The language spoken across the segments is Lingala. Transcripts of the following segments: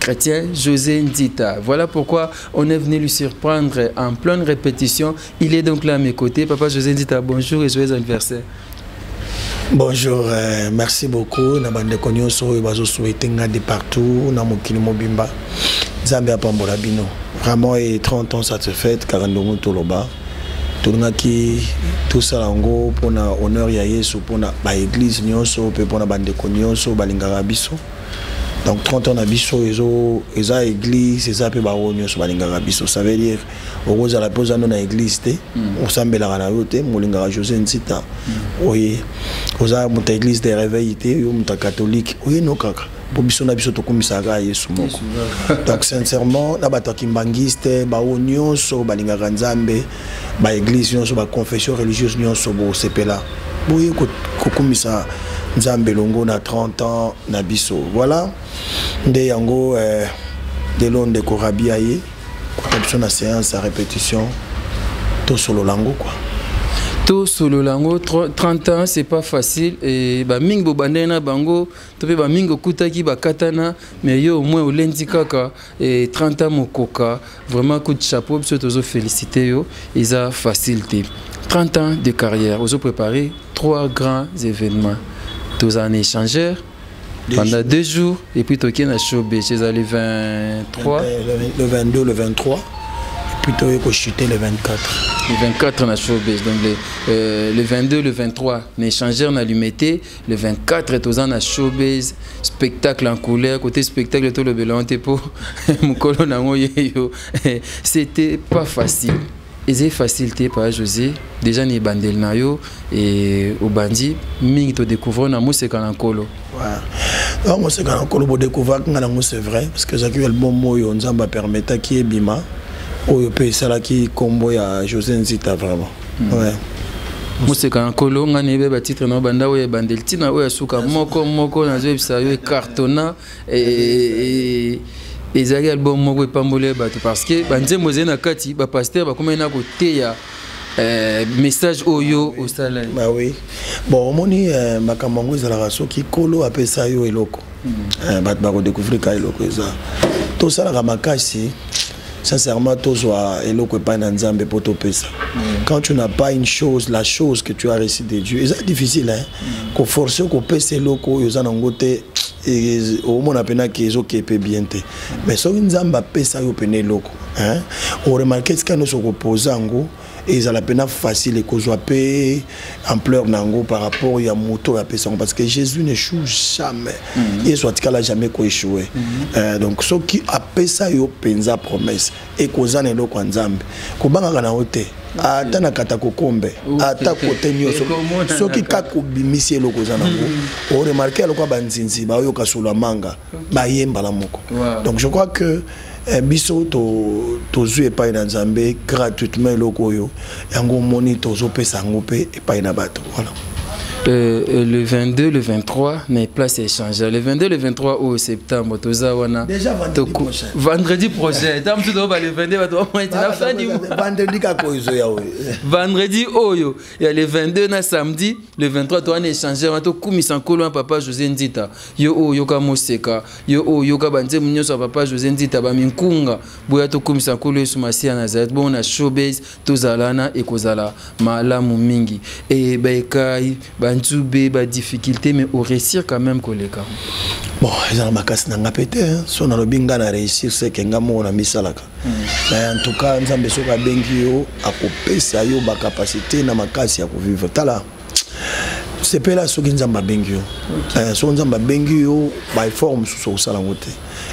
chrétien José Nzita. Voilà pourquoi on est venu lui surprendre en pleine répétition. Il est donc là à mes côtés. Papa José Nzita, bonjour et joyeux anniversaire. Bonjour, euh, merci beaucoup. Na bande konyoso oyo bazo souhaiter nga de partout na mokili mobimba. Nzambe apambola bino. Vraiment et 30 ans ça se fête Karandongo Toloba. tolingaki tosala yango mpona honneur ya yesu mpona baeglize nyonso mpe mpona bandeko nyonso balingaka biso donc 30 ans na biso ezo eza église eza mpe baoyo nyonso balingaka biso ça veut dire okozala mpe oza no na église te mm. osambelaka na yo te molingaka josé nzita mm. oye oza moto ya église de réveil te yo moto ya catholique oye no kaka mpo biso na biso tokumisaka yesu moko donc sincèrement na bato ya kimbangiste baoyo nyonso balingaka nzambe ba église nyonso ba confession religieuse nyonso bosepela boye kokumisa nzambe elongo na 30 ans na biso voilà nde yango eh, lelo ndeko rabi aye kota biso na séance ya répétition tosolola yango kua tosolola yango 30 ans c'est pas facile e bamingi bobandani na bango to mpe bamingi okutaki bakatana mais yo omoi olendi kaka e, 30 ans mokoka vraiment coup de chapeau biso tozo félicité yo eza facile te 30 ans de carrière ozo préparer trois grands événements toza na échangeur pendant deux jours et puis tokie na showbase eza le 23 le 22 le 23 puis toye kochute le 24 le 24 na showbase donc le, euh, le 22 le 23 na échangeur na lumete le 24 toza na showbase spectacle en couleur côté spectacle tolobela yango te mpo mokolo na yango yeyo c'était pas facile ezali facile te papa josé déjà na ebandeli na yo e, obandi mingi todécouvrir na moseka na nkolo donc moseka na nkolo bodécouvraki ngai nango c'est vrai parce que ezalaki album oyo nzambe apermetaki ebima oyo mpe esalaki nkombo ya josé nzita vraiment ouais. moseka na nkolo ngai nayebi batitre na banda oyo ebandeli ntina oyo ya suka moko moko nazoyebisa yo ecartona e, e, e, ezalaki album moko epamboli bato parce que banzembo ezali na kati bapaster bakomai na koteya Euh, message oyo osala bah oui bon omoni euh, makambo yango ezalaka soki kolo apesa yo eloko hmm. euh, bato bakodécouvrir ka eloko eza tosalaka makasi Sincèrement, tozwa eloko epai na Nzambe po topesa. Mm. Quand tu n'as pas une chose, la chose que tu as reçue de Dieu, eza difficile hein. Mm. Ko forcer ko pesa eloko oyo oza nango te omona mpena ke ezoke mpe bien te mais soki nzambe apesa yo mpena eloko oremarke tika nyonso okopoza yango ezala mpena facile ekozwa mpe ampleur na yango par rapport ya moto oyo apesa yango parce que jésus ne choue jamais mhm. yesu mm -hmm. atikala jamais koechoue mm -hmm. euh, donc soki apesa yo mpenza promesse ekozwa na eloko ya nzambe kobangaka na yo te ata na kata kokombe ata kote nyonso soki kaka obimisi eloko oza nango oremarke ya lokwa banzinzi baoyoka solo ya manga baye mbala moko donc je crois que eh, biso tozwi epai na nzambe gratuitement eloko oyo yango omoni tozopesa yango mpe epai na bato voilà Euh, euh, le 22, le 23, mais place est changée. Le 22, le 23 au septembre, tout ça, on Déjà vendredi prochain. Vendredi prochain. Tant que le 22, la fin du mois. Vendredi, Vendredi, oh yo. Il y a le 22, na samedi, le 23, on a échangé. On a tout comme papa José Ndita. yo oyo yoka moseka yo oyo yoka banzembo nyonso ya papa josé nzita baminkunga boya tokumisa nkolo yesu masiya nazareth bongo na showbase tozalana ekozala malamu mingi e baekai banzube badifficulté mais oréussir quand même koleka bon eza na makasi na nga mpe te so nalobi ngai na réussir seke ngai moko na misalaka hmm. mais en tout cas nzambe soki abengi yo akopesa yo bacapacité na makasi ya kovivre tala sepela soki nzambe abengi yo eh, soki nzambe abengi yo baeffort mosusu okosala yango te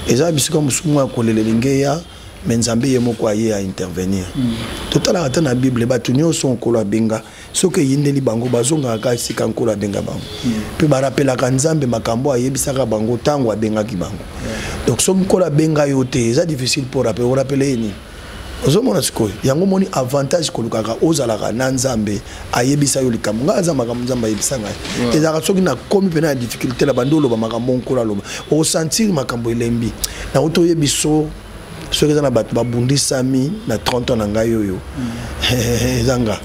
eza bisika mosusu moko ya kolela elingi eya me nzambe ye moko aye aintervenir mm. totalaka ata na bible bato nyonso nkolo abenga soki eyindeli bango bazongaka kaka esika nkolo abenga bango mm. mpe barapelaka nzambe makambo ayebisaka bango ntango abengaki bango donc soki nkolo abenga yo te eza difficile mpo orapele ye nini ozomona sikoyo yango omoni avantage kolukaka ozalaka na nzambe ayebisa yo likambo ngai aza makambo nzambe ayebisa ngai ezalaka soki nakomi mpena ya difficulté na bandi oloba makambo nkolo aloba osentir makambo elembi nango toyebi so soki eza na bato babundisami na 30 ans na ngai oyo eza nga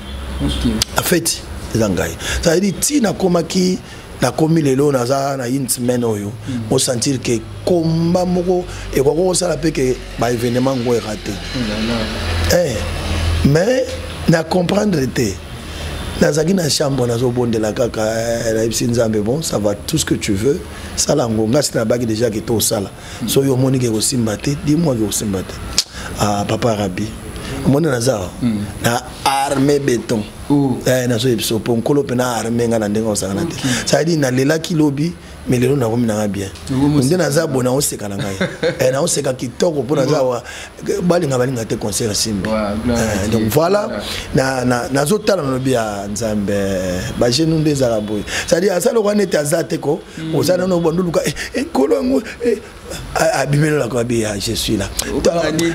afeti eza ngai c'est-à-dire ti nakomaki nakomi lelo naza na une semaine oyo mm. osentir ke komba moko ekoki kosala mpe ke baévénement ngo erate mm, eh, mais na comprendre te nazalaki na chambre nazobondela kaka eh, nayebisi nzambe bon ça va tout ce que tu veux sala yango ngasi nabaki déjà ke tosala so yo omoni ke kosimba te dimwa ke kosimba te ah, papa rabi omoni naza awa hmm. na arme beton oh. eh, nazoyebi so mpo nkolo mpe na arme ngai na ndenge osangana te cetadire nalelaki lobi me lelo nakomi nanga bien nde naza bo naoseka na ngai eh, naoseka kitoko mpo naza wa balinga balinga te concert simbi eh, donc voilà nazotala na lobi ya nzambe bagenu nde ezala boye cetadire asala lokola neti aza te ko mm. oza nano bando luka eh, eh, nkolo yango eh, abimelelaka be ya je suis là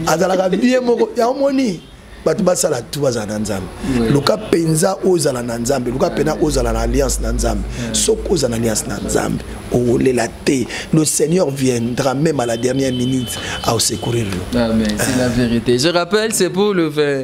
azalaka bie moko ya omoni bato basala tu bazala na nzambe luka mpenza ozala na nzambe luka mpenza ozala na alliance na nzambe soki ozala na alliance na nzambe okolela te le seigneur viendra même à la dernière minute à secourir yo ah, c'est la vérité je rappelle c'est pour le 20,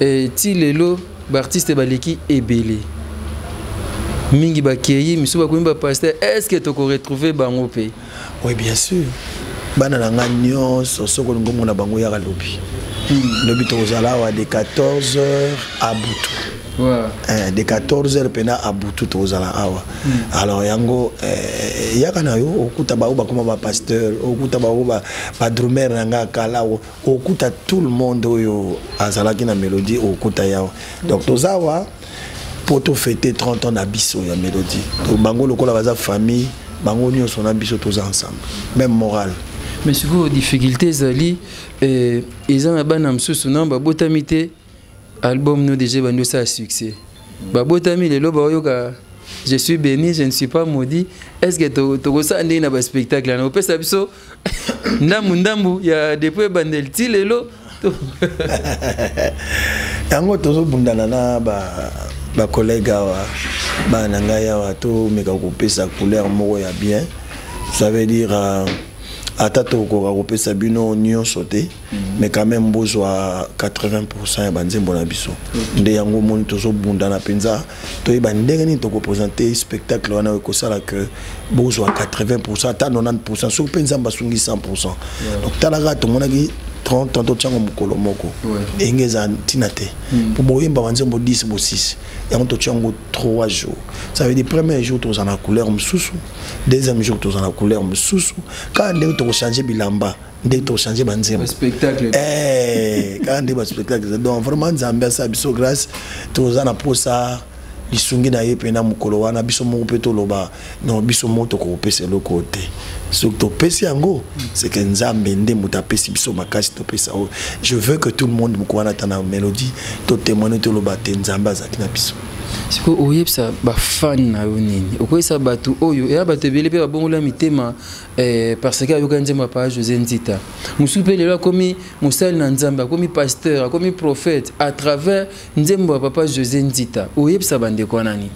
Eh, ti lelo ba artistes baleki ebele. Mingi bakeyi, misusu bakomi ba pasteur. Est-ce que toko retrouver bango pe? Oui, bien sûr. Bana na nga nyonso soko olingi omona bango yaka lobi. Hmm. Lobi tokozala awa de 14h à butu. Wow. Eh, de 14h pena à butu tokozala awa. Hmm. Alors yango eh, yaka na yo okuta baoyo bakoma ba pasteur, okuta baoyo ba, ba drummer na nga kala okuta tout le monde oyo azalaki na melodie okuta yawa donc toza awa mpo tofete 30 ans na biso ya melodie to bango lokola baza famille bango nyonso na biso toza ensemble même morale mais sikoyo difficulté ezali eh, eza na bana mosusu na babotami te Album no deja ebandi osala succès. Babotami lelo baoyoka je suis béni, je ne suis pas maudit. Est-ce que to to ça ndé na ba spectacle na opesa biso ndambu ndambu ya depuis bandel ti lelo. Yango tozo bundana na ba ba collègues awa ba na ngai awa to meka kopesa couleur moko ya bien. Ça veut dire euh, ata tokoka kopesa bino nyonso te mais quand même bozwa 80% ya banzembo na biso nde yango omoni tozobundana mpenza toyeba ndenge nini tokopresente spectacle wana ekosala que bozwa 80% ata 90% soki mpe nzambe asungi 100% donc talaka tomonaki 30 tanto ntiango mokolo moko ndenge eza ntina te hmm. mpo boyemba banzembo 10 bo 6 yango totya yango 3 jours ça veut dire premier jour tozala na couleur mosusu deuxième jour tozala na couleur mosusu kaka ndenge tokochange bilamba nde tochange banzembo eh, kaka nde baspectacle donc vraiment nzambe asala biso grâce toza na posa lisungi na ye mpena mokolo wana biso moko mpe toloba no biso moko tokopesa eloko te soki topesi yango seke nzambe nde moto apesi biso makasi topesa oyo je veux que tout le monde moko wana ata na mélodie totemoine toloba te nzambe azalaki na biso sikoyo oyebisa bafani na yo nini okoyebisa bato oyo eya bato ebele mpe babongola mitema Eh, parce que ayokani nzembo ya paa josé nzita mosusu mpe lelo akomi mosali na nzambe akomi pasteur akomi prophète à travers nzembo ya papa josé nzita oyebisa bandeko wana nini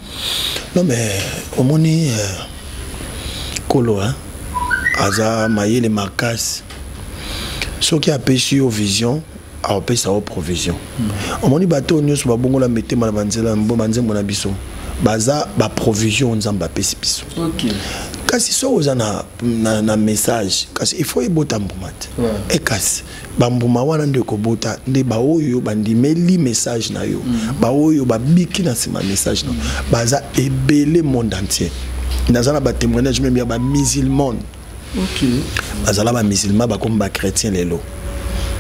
non mais omoni euh, kolo hein? aza mayele makasi soki apesi yo vision akopesa yo provision omoni bato oyo nyonso babongola mitema na banzela banzembo na biso baza baprovision nzambe apesi biso kasi soki oza na, na, na message kasi ifo ebota mbuma te yeah. e kasi bambuma wana nde ekobota nde baoyo bandimeli message na yo mm. baoyo babiki na nsima message na yo mm. baza ebele monde entier naza na batémoignage meme ya bamusulmane bazala ba musulman bakomi ba chrétien lelo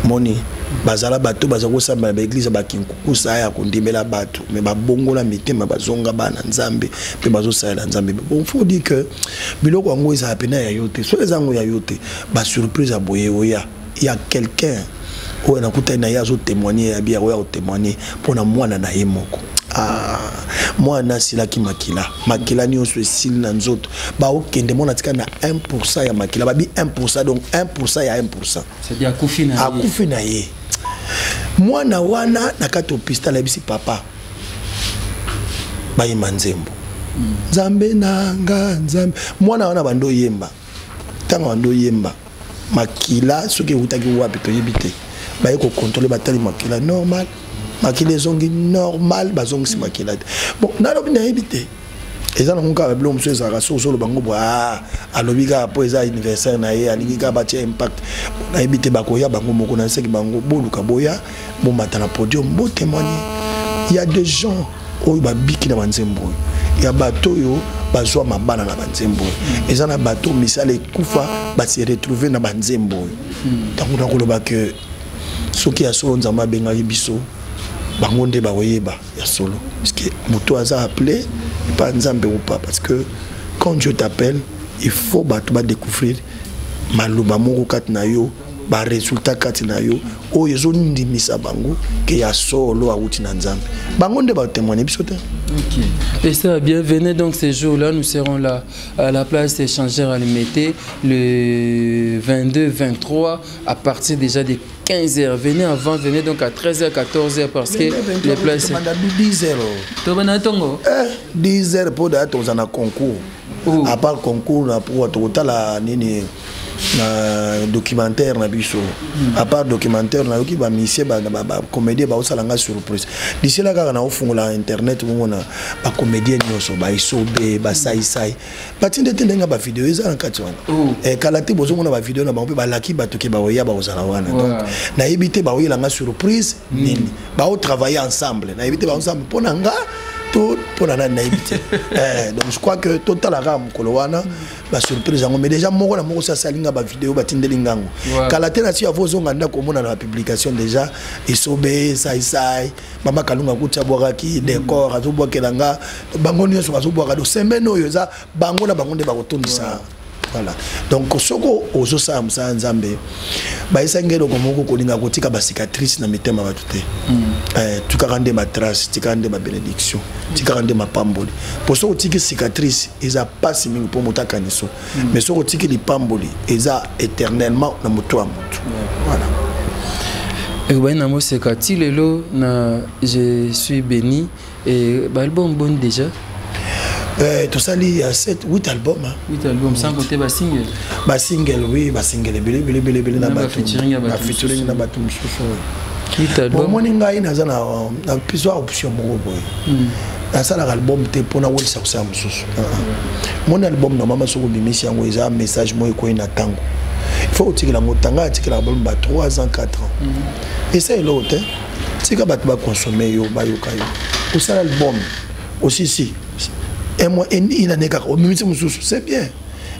moni bazala bato baza kosambela baeglize bakinkukusa ya kondimela bato me babongola mitema bazonga bana nzambe mpe bazosalela nzambe bon faut dire que biloko yango ezala mpena ya yo te soki eza yango ya yo te basurprise ya boye oya ya quelqu'un oyo nakutani na ye azo témoigner ya bière oyo akotémoigner mpo na mwana na ye moko ah, mwana asilaki makila makila nyonso esili na nzoto baokende mwana atika na 1 pourcent ya makila babi 1 pourcent donc 1 pourcent ya 1 pourcent akufi na ye mwana wana na kati opistale ayebisi papa bayemba nzembo hmm. nzambe na nga nzambe mwana wana bando oyemba ntango bando oyemba makila soki ewutaki wapi toyebi te baye kokontrole batali makila normal makila ezongi normal bazongisi makila te bon nalobi nayebi te eza nango kaka biloko mosusu ezalaka soki ozoloba ngo bwa ah, alobi kaka mpo eza anniversaire na ye alingi kaka batya impact nayebi te bakoya bango moko na nseki bango boluka boya bomata na podium bo témoigner il y a des gens oyo babiki na banzembo oyo ya bato oyo bazwa mabala na banzembo oyo eza na bato misala ekufa base retrouve na banzembo oyo ntango hmm. nakoloba ke soki ya solo nzambe abengaki biso bango nde bakoyeba ya solo parceke moto aza appelé epa nzambe ou pas parce que quand dieu t'appelle il faut bato badécouvrir maloba moko kati na yo baresultat kati na yo oyo ezondimisa bango ke ya solo awuti na nzambe bango nde batémoigne biso te okay. et ça bienvenue donc ce jour là nous serons là à la place échangeur à limité le 22 23 à partir déjà des 15h. Venez avant, venez donc à 13h, 14h parce que les places. 10h. 10h pour d'attendre un concours. oh. à part concours na pour tokotala nini na documentaire na biso hmm. à part documentaire nayoki bamisie bacomédien baosala ngai surprise lisela kaka naofungola internet bongo na bacomédien nyonso baisobe basaisai batinde te ndenge bavideo eza na kati wana oh. eh, kala te bozomona bavideo na bango mpe balaki bato ke baoya bakozala wana donc nayebi te baoyela ngai surprise nini bao travailler ensemble nayebi te ensemble mpo na nga to mpo na nani nayebi te eh, donc je crois que totalaka mokolo wana basurprise yango mais déjà moko na moko si asali nga bavideo batindeli ngango kala te na si avo ozonga ndako omona na bapublication déjà esobe saisai mama kalunga kuti abwakaki decor mm. azobwakela nga bango nyonso bazobwaka do semaine oyo eza bango na bango nde bakotondisa voilà donc soki ozosala mosala nzambe bayesa nge eloko moko kolinga kotika bacicatrice na mitema bato te mm. eh, tikaka nde matrace tikaka nde mabenediction tikaka nde mapamboli mpo soki otiki cicatrice eza mpasi mingi mpo moto akaniso mm. mais soki otiki lipamboli eza éternellement na moto ya moto voilà ekobandi na moseka ti lelo na je suis béni Et ba album bon déjà Euh, tosali ya 7 8 album hein. 8 album sans compter ba single ba single oui ba single ebele ebele ebele ebele na ba featuring ya ba featuring na ba tout mosusu hit album omoni ngai naza na na piso option moko boye hmm. nasalaka album te mpo nawelisa kosala mosusu ah, ah. moni album na mama soki obimisi yango eza message moko ekwei na ntango il faut otikela yango tanga atikelaka baloba 3 ans 4 ans hmm. esa eloko te tika bato baconsome yo bayoka yo osala album osisi un mois une année kaka omimisi mosusu c'est bien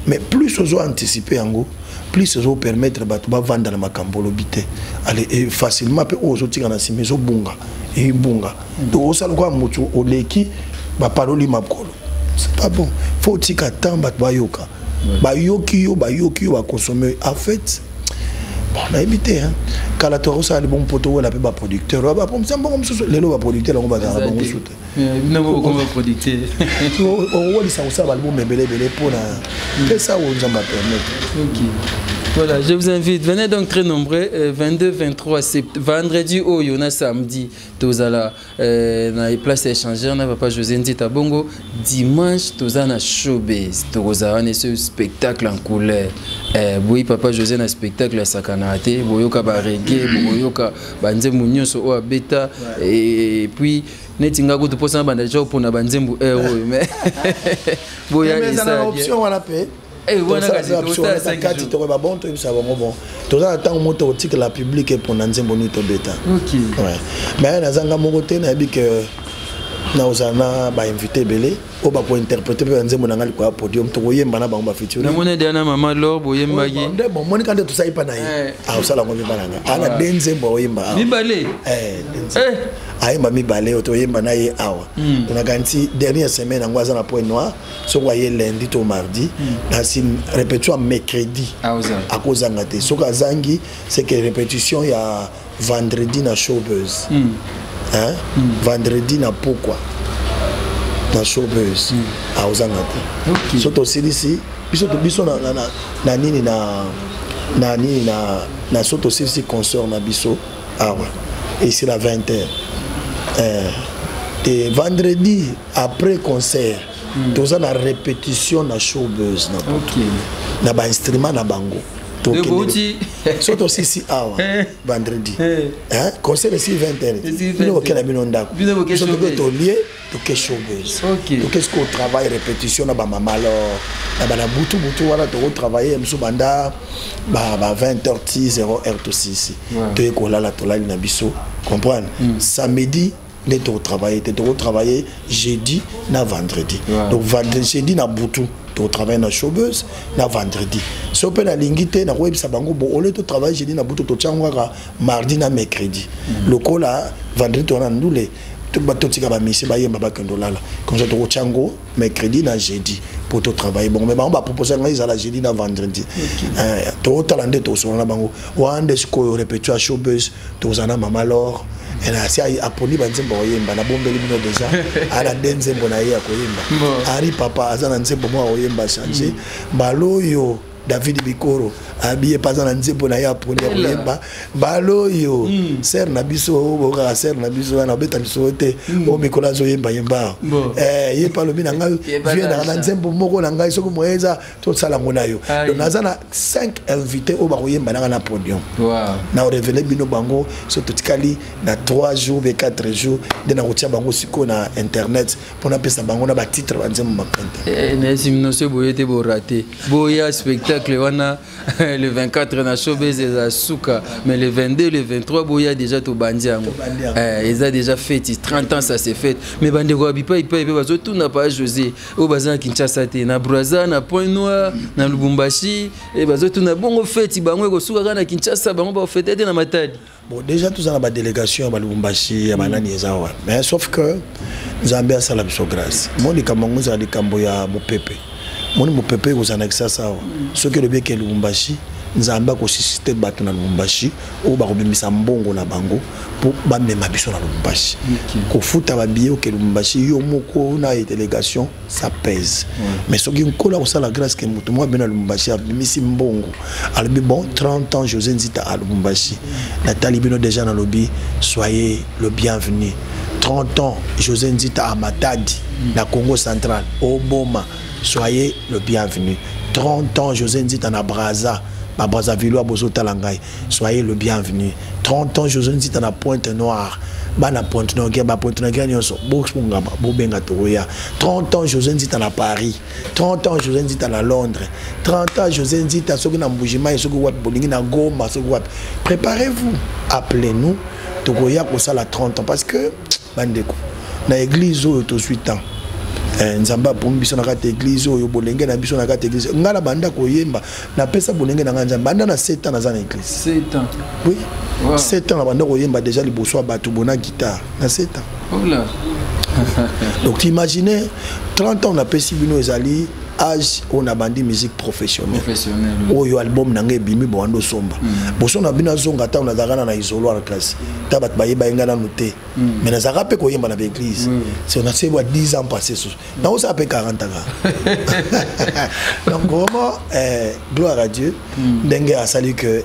mais plus ozo anticipe yango plus ozo permettre bato bavanda na makambo olobi te e facilement mpe oyo ozotika na nsima ezobunga ebunga donc osala lokola motu oleki bapaloli makolo c'est pas bon faut otika temps bato bayoka bayoki yo bayoki yo bakonsome en fait bon nayebi te kala to akosala libongo mpo towela mpe baproducteur oyo bapromisa mbongo mosusu lelo baproducteur yango bazalaka bango mosusu te okowelisa kosala balibongo ebele ebele mpo na pesa oyo nzambe apermettre Voilà, je vous invite. Venez donc très nombreux. 22, euh, 23 septembre, vendredi, au oh, Yona, samedi, tous à la Euh, na place ya échangeur na papa josé nzita bongo dimanche toza na showbase tokozala wana ese spectacle en couleur eh, boyi papa josé na spectacle asakanaka te boyoka baregue bokoyoka banzembo nyonso oyo abeta et puis neti nga kutu mposa na banda deja opona banzembo heure oyo mais boya eza na option wana mpe Eh, kati tokoyeba bon toyebisa bango bon toza na ntango moko tokotikela publike mpona nzembo nini tobeta mais nazanga moko te nayebi ke nakozala na bainvité ebele oyo bakointerprete mpe banzembo na ngai likolo ya podium tokoyemba na bango bafitirenamoni deya na mama lor boyembaki oh, nde bomonika nde tosali mpa na ye eh. akosala ah, yango mibala nga ah, ana de nzembo aoyemba awa mibale eh, eh. ayemba mibale oyo toyemba na ye awa hmm. nakanisi dernière semaine yango aza na point noir soki aye lundi to mardi nasi répétition ya mercredi akozanga te soki azangi c'est que répétition ya vendredi na showbuse mm. hein? mm. vendredi na pokwa na showbuse mm. akozanga te okay. so tosilisi biso biso na, na, na, na nini na na nini na, na so tosilisi concert na biso awa ah, esila 20 heures eh, te vendredi après concert mm. toza na répétition na showbuzz na okay. na ba instrument na bango tokende so tosisi awa eh. vendredi eh. Eh, concert esi 20 heures bino kokela bino ndako biso toke tolie toke showbuzz toke siko travail répétition na bamama lor na bana butu butu wana tokotravaille mosusu banda ba 20 heures ti 0 heure tosisi toye kolala tolali na biso comprendre mm. samedi nde tokotravaille te tokotravaille jeudi na vendredi ouais. donc vendredi jeudi na butu tokotravaille na showbus na vendredi so mpe nalingi te nakoyebisa bango bo ole totravaille jeudi na butu totyango kaka mardi na mercredi mm. lokola vendredi towana ndule totika bamisi bayemba bakende olala comme ça tokotya yango mercredi na jeudi mpo totravaille bongo mai bango bapropose ngai ezala jeudi na vendredi eh, totala nde tosolola na bango wana nde sikoyo repetio ya showbus tokozala na mama lor asi aponi banzembo akoyemba nabombeli bino deja ala nde nzembo na ye ya koyemba ari papa aza na nzembo moko akoyemba change mm. mbala oyo david bikoro abiye mpe aza na nzembo na ye aponi ya koyemba mbala oyo mm. sere na biso bokaka sere na biso wana obeta misolo te mm. o mikolo azoyemba yemba eh, ye mpe alobi na ngai vie nanga na nzembo moko na ngai soki moye eza tosala yango na yo donc naza na 5 invité oyo bakoyemba nanga na podium na orevele bino bango so totikali na 3 jours be 4 jours nde nakotia bango sikoyo na internet mpo napesa bango na batitre banzembo mapente eh, eh, nayesi bino so boye te borate boya spectacle wana le 24 na showbase eza suka mais le 22 le 23 boya déjà tobandi yango eh, eza déjà feti 30 ans ça se fete mais bandeko ya bipai bipai mpe bazotuna pa josé oyo baza na kinshasa te na braza na point noir na lubumbashi eh, bazotuna bongo feti bango ekosuka kaka na kinshasa bango bafete te na matadi bon déjà toza na badélégation ya balubumbashi ya banani eza wana mais sauf que nzambe asala biso grâce mo likambo yango ezala likambo ya mopepe moni mopepe ekozala na kisasa awa soki elobi eke lubumbashi nzambe akosisite bato na lubumbashi oyo bakobimisa mbongo na bango mpo bamema biso na lubumbashi kofuta babiye oke lubumbashi yo moko na délégation ça pèse mais soki nkolo akosala grâce ke moto moko abina lubumbashi abimisi mbongo alobi bon 30 ans josé nzita a lubumbashi natali bino déjà nalobi soyez le bienvenu 30 ans josé nzita a matadi na congo central oboma soyez le bienvenu 30 ans josé nzita na braza babrazavillois bozotala ngai Soyez le bienvenu. 30 ans, José Nzita na pointe noire. Bana pointe noire, ba pointe noire, nyonso. Box mungaba, bobenga tokoya. 30 ans, José Nzita na Paris. 30 ans, José Nzita na Londres. 30 ans, José Nzita, soki na Mbujima, soki wapi, bolingi na Goma, soki wapi. Préparez-vous. Appelez-nous. Tokoya kosala 30 ans. Parce que, bandeko na eglise oyo tozwi temps eh, nzambe apomi biso na kati ya eglise oyo bolenge na biso na kati ya eglise ngai na banda koyemba napesa bolenge na ngai nzambe banda na 7 ans naza na eglise oui 7 ans na banda koyemba déjà liboso ya bato bona guitare na 7 ans donc imagine 30 ans napesi bino ezali age oyo nabandi musique professionnelle oyo album na ngai ebimi bowanda osomba mm. boso na bino azonga ntango nazalaka na na isoloir kasi ta bato bayeba ye ngai nanu te mm. mais nazalaka mpe koyemba na baeglise so na sebwa 10 ans passé susu mm. nakosala mpe 40 kaka donc vraiment eh, gloire à dieu ndenge asali que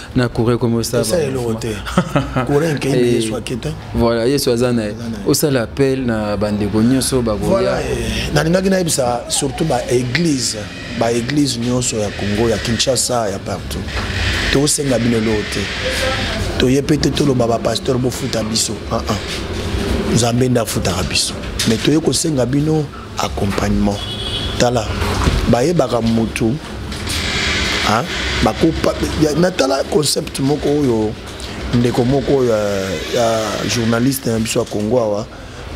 na kure ekomi osalasa eloko te kure enkei eh, yesu akita voilà yesu aza na ye osala appel na bandeko nyonso bakoya eh, nalingaki nayebisa surtout baeglise baeglise nyonso ya congo ya kinshasa ya partout tosenga bino eloko te toye mpe te toloba bapasteur bofuta biso ah, ah. nzambe nde afutaka biso mai toye kosenga bino accompagnement tala bayebaka mutu hein bakopa natala concept moko oyo ndeko moko ya, ya journaliste na biso ya Congo awa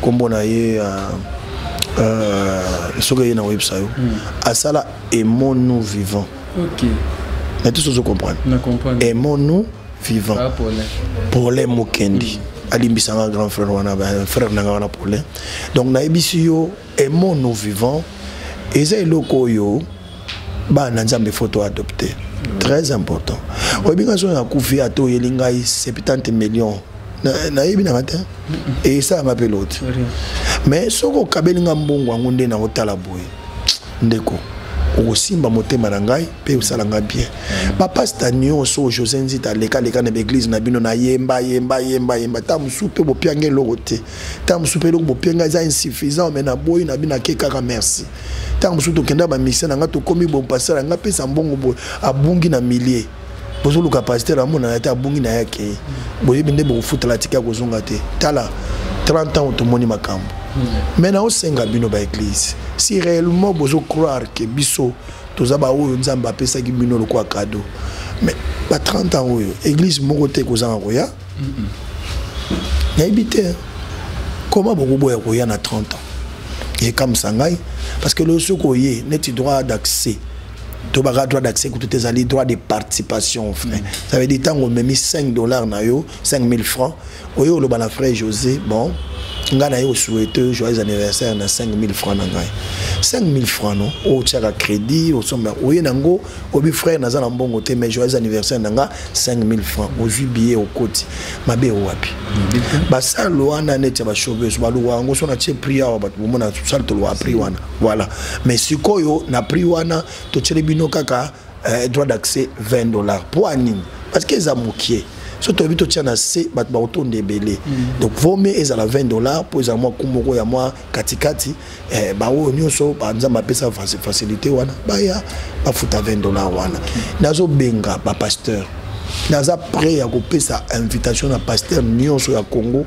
kombo na ye uh, uh, soki eye na websa yo mm. asala emonu vivant ok na tous ozo comprendre na comprendre aimons nous vivant pole mokendi alimbisa nga grand frère wana frère na nga wana pole donc nayebisi yo aimons nous vivant eza eloko oyo bana nzambe foto adopte très important oyebi nga soki nakufi ata oyeli ngai 70 million nayebi nanga te esalanga mpe loti mais soki okabeli nga mbongo yango nde nakotala boye ndeko okosimba motema na ngai mpe osala ngai bien bapasta nyonso oyo josé nzita alekaleka na baeglize na bino nayemba yemba yemba yemba ntango mosusu mpe bopianga eloko te ntango mosusu mpe eloko bopianga eza insuffisant me naboyi na bino ake kaka merci ntango mosusu tokenda bamisie na ngai tokomi bompasala ngai mpesa mbongo boye abungi na milie bozoluka pasteur amona ata abungi na yake boyebi nde bokofutala atika kozonga te tala 30 ans tomoni makambo mai naosenga bino baeglise si réellement bozo croire ke biso toza baoyo nzambe apesaki bino lokola kado mais ba 30 ans oyo église moko te ekozanga koya nayebi te koma bokoboya koya na 30 ans ekamwisa ngai parce que loyo soki oye neti droit d'accès tobaka droit d'accès kutu te ezali droit de participation frais mm. ça veut dire ntango omemi 5 dollars na yo 5000 francs oye oloba na frère josé bon ngai naye osuete joyeux anniversaire na 5000 francs na ngai 5000 francs no otyaka crédit osomba oye nango obi frère naza na mbongo te mais joyeux anniversaire na ngai 5000 francs ozwi billet okoti mabe owapi mm. basale wana neti ya bashauveuse baluka yango so na tie prix awa bato bomona sale toloka prix wana voilà mais sikoyo na prix wana totyeli bino kaka eh, droit d'accès 20 dollars mpo anini parce que eza mokie so toyebi totya na se bato bakotonda ebele mm. donc vaut mieux ezala 20 dollars mpo ezala mwa kumu moko ya mwa katikati eh, baoyo nyonso banzambe apesa facilité wana baya bafuta 20 dollars wana mm. nazobenga bapasteur naza prêt ya kopesa invitation na pasteur nyonso ya congo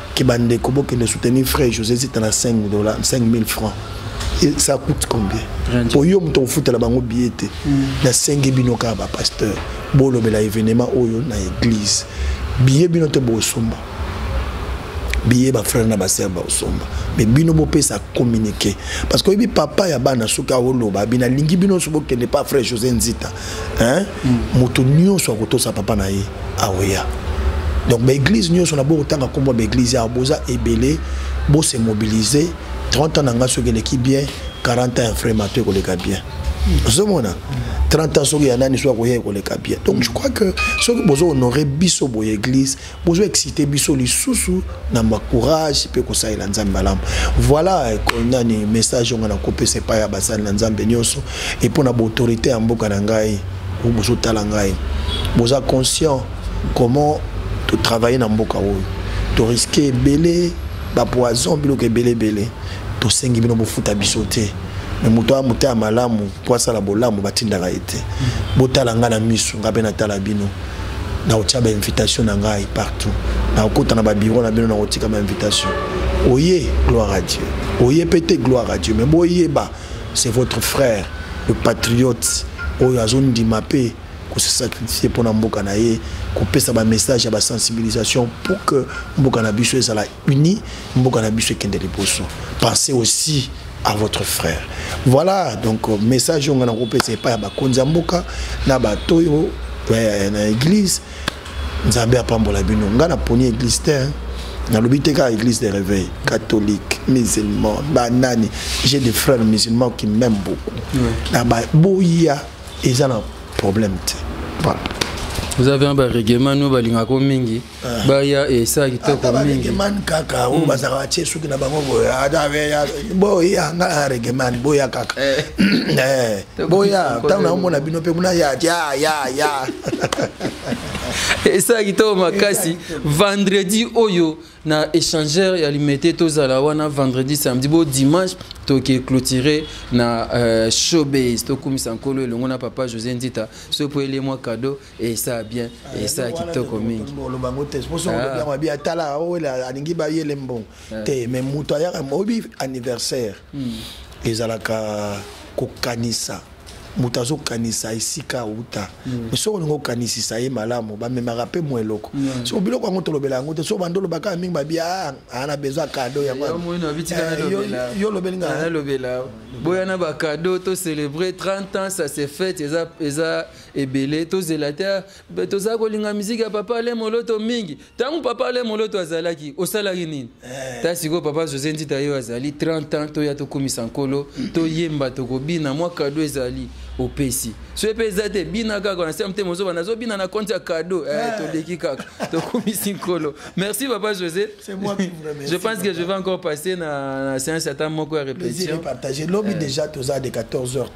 que bandeko bokende soutenir frère josé zita na 5 dollars 5000 francs Et ça coûte combien mpo yo moto okofutela bango biye te mm. nasengi bino kaka bapasteur bolobela événement oyo na église biye bino te bosomba biye bafrere na basere baosomba me bino bopesa communiqué parce que oyebi papa ya bana soki aoloba binalingi bino nyonso bokende pa frère josé nzita hein? moto nyonso akotosa papa na ye aoya donc baeglise nyonso na bokotanga nkombo ya baeglise awa boza ebele bose mobilise 30 ans na ngai soki eleki bien 40 ans ya frai mato ekoleka bien ozomona 30 ans soki ya nani soki akoya ekoleka bien donc je crois que soki bozo honore biso boye église bozo excite biso lisusu na ma courage mpe kosalela nzambe malamu voilà nani message yango nakopesa epai ya basali na nzambe nyonso e mpo na baautorité ya mboka na ngai bozotala ngai boza conscient comment totravaille na mboka oyo toriske ebele bapoison biloko ebele ebele tosengi bino bofuta biso te me moto aya moto ya malamu mpo asala bolamu batindaka ye te botala ngai na miso ngai mpe natala bino nakotia ba invitation na ngai partout nakokota na babiro na bino nakotika ba invitation oye gloire à dieu oye mpe te gloire à dieu mais boyeba c'est votre frère le patriote oyo azondima mpe se sacrifier pour mboka na ye kopesa ba message ya ba sensibilisation pour que mboka na biso ezala unis mboka na biso ekende liboso pensez aussi à votre frère voilà donc euh, message oyo ngai nakopesa epai ya bakonzi ya mboka na bato oyo euh, na église nzambe apambola bino ngai naponi église te hein. nalobi te kaka église de réveil catholique musulman banani j'ai des frères musulmans qui m'aime beaucoup na baboya eza na problème te voilà vous avez un barèglement no balingaka mingi Ah. baya esa kitoko mingiregeman kaka oyo hmm. bazalaka batie suki na bango boyeboya nga regeman boya kaka eh. Eh, boya ntango naomona bino mpe muna ya ya ya ya esa kitoko makasi vendredi oyo na échangeur ya limete tozala wana vendredi samedi bo dimanche toke clôture na euh, showbase tokumisa nkolo elongo na papa josé ndita sopo ele mwa cadeau esa bien ah, esa kitoko mingi oloba ngo te poso olobi yango abi atala awela alingi bayele mbongo ah. te mais moto ayaka oyebi anniversaire hmm. ezalaka kokanisa moto azokanisa esika auta hmm. soki olingi okanisisa ye malamu bamemaka mpe mwa eloko hmm. so biloko yango tolobela yango te so bando olobaka mingi babi ana ah, ah, bezwa kado yango eh, yo olobeli ngaa boya na bakado to célébrer 30 ans ça se fête eza ebele tozela te tozala kolinga miziki ya papa ale moloto mingi ntango papa ale moloto azalaki osalaki nini eh. ta sikoyo papa josé nzita yo azali 30 ans toya tokumisa nkolo toyemba tokobina mwa kado ezali opesi soki mpe eza te bina kaka na sema motema ozoba nazobina na konti ya kado eh, eh. toleki kaka tokumisi nkolo merci papa josé je pense que je vais encore passer na, na séance ata moko ya répétition lobi déjà toza de 14 heures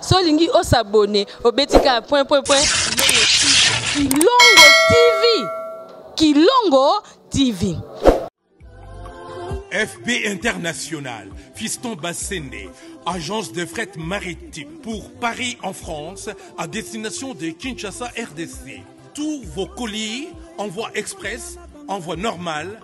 so olingi o s'abonner obeti kaka point point point kilongo tv kilongo tv FB International, Fiston Bassende, agence de fret maritime pour Paris en France, à destination de Kinshasa RDC. Tous vos colis, envoi express, envoi normal,